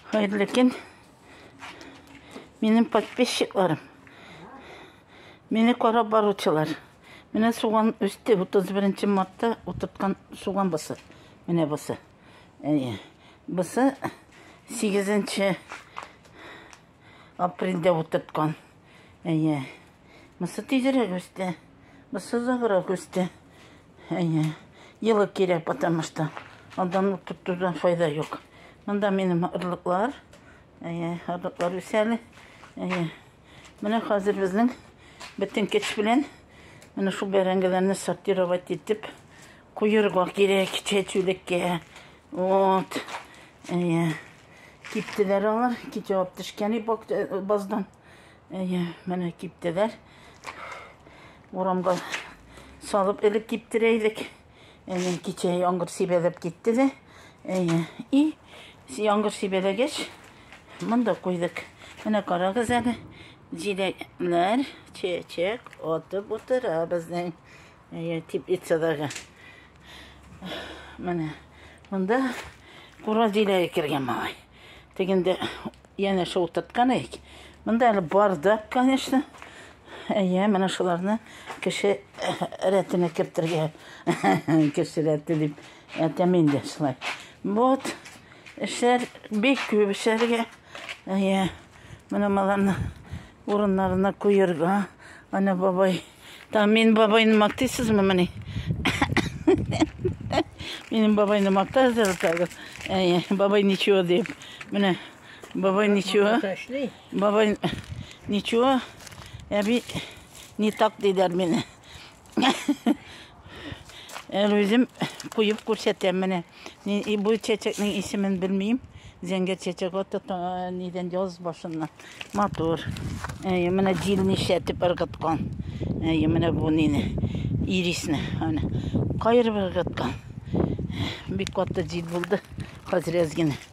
Хәерле көн. Минем подписчикларым. Мине карап баручылар. Менә суган үсте 31 мартта утырткан суган бысы. Менә бысы. Әйе. Бысы 8 апрельдә утырткан. Әйе. Мысы тизрәк үсте. Мысы озаграк үсте. Әйе. Елы кирәк, потому что андан тоттудан файда юк. Монда минем орлыклар. Әйе, орлыклар үсәле. Әйе. Менә хәзер безнең бөтен көч белән менә шул бәрәңгеләрне сортировать итеп куерга кирәк чәчүлеккә. Вот. Әйе. Киптеләр алар. Китеп алып төшкән э, баздан. Әйе, менә киптеләр. Урамга салып элек киптерә идек. Әйе, кичә яңгыр сибәләп китте дә. Әйе, и яңгыр сибәләгәч, монда куйдык. Менә карагыз әле, җиләкләр чәчәк атып утыра безнең. Әйе, теплицадагы. Менә монда кура җиләге кергән малай. Тегендә яна шул тоткан ик. Монда әле бардак, конечно. Әйе, менә шуларны кеше рәтенә кертергә. Кеше рәте дип әйтәм инде шулай. Вот, эшләр бик күп эшләргә. Әйе, менә маларны Урыннарына куерга. Ана бабай. Там мин бабайны мактыйсызмы мени? Минем бабайны мактазыр тагы. Әйе, бабай ничего дип. Менә бабай ничего. Бабай ничего. Әби не так дидер мені. Әл үзем куеп күрсәтәм менә. Бу чәчәкнең исемен белмим. Зәңгәр чәчәк аты нидән яз башыннан. Матур. Әйе, менә җил нишләтеп ыргыткан. Әйе, менә бу нине. Ирисне. Аны кайырып ыргыткан. Бик каты җил булды. Хәзер әз генә.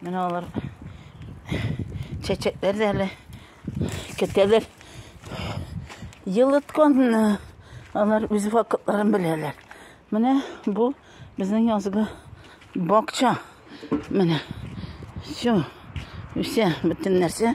Менә алар чәчәкләр дә әле көтәләр. Елыткан алар үз вакытларын беләләр. Менә бу безнең язгы бакча. Менә. Все. Үсә бөтен нәрсә.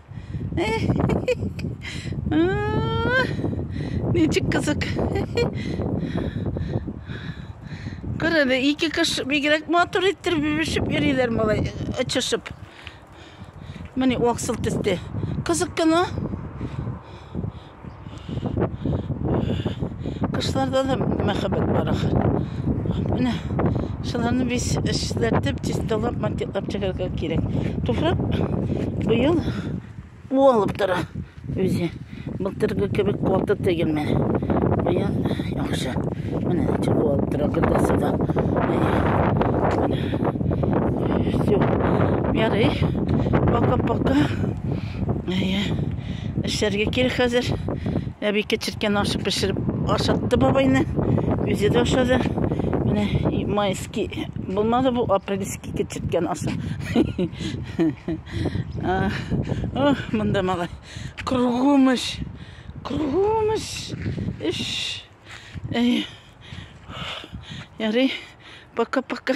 Ничек кызык. Көр әле, ике кыш бигрәк матур иттереп бибешеп йөриләр малай, очышып. Менә аксыл төстә. Кызык кына. Кышларда да мәхәббәт бар ахыр. Менә шуларны без эшләтеп, чисталап, монтировать чыгарга кирәк. Туфрак быел у алып тора үзе. Былтыргы кебек каты тегелме? Быел яхшы. Менә ничек у алып тора гөрдәсе дә. Все. Ярый. Пока-пока. Әйе. Эшләргә кирәк хәзер. Әби кечерткән аш пешереп ашатты бабайны. Үзе дә ашады. Менә майский булмады бу апрельский кечерткән ашы. Ох, монда малай. Кругом эш. Кругом эш. Эш. Әйе. Ярый. Пока-пока.